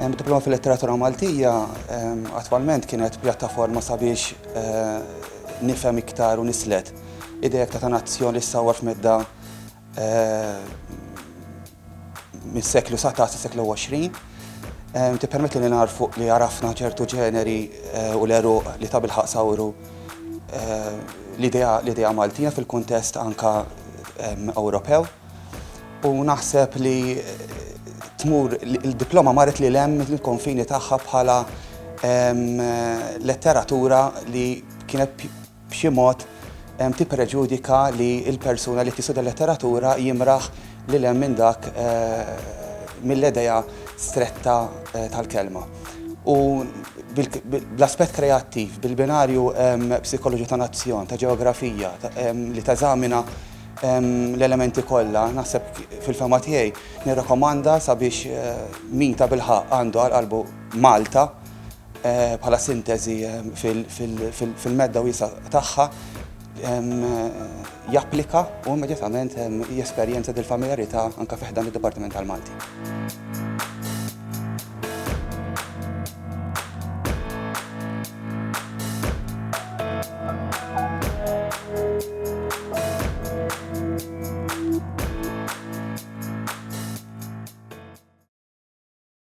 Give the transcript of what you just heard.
Diploma fil-letteratura Maltija attwalment kienet pjattaforma sabiex eh, nifhem iktar u nislet idejek ta' ta' nazzjon li sawar f'medda eh, mis-seklu 19 seklu 20. Tippermetti li nagħrfu li għarafna ċertu ġeneri u l-għeruq li tabilħaq sawru l-idea Maltija fil-kuntest anka Ewropew. U naħseb li tmur il-diploma marret li lem il-konfini tagħha bħala letteratura li kienet b'xi mod tippreġudika li l-persuna li qed jistudja l-letteratura jimraħ lil hemm minn dak mill-idea stretta tal-kelma. U bl-aspett kreattiv, bil-binarju psikoloġija ta' nazzjon, ta' ġeografija, li teżamina l-elementi kollha, naħseb fil-fehma tiegħi nirrakkomanda sabiex min tabilħaqq għandu għal qalbu Malta, bħala sinteżi fil-medda wiesgħa tagħha, japplika u immedjatament jesperjenza dil-familjarità anke fi ħdan id-Dipartiment tal-Malti.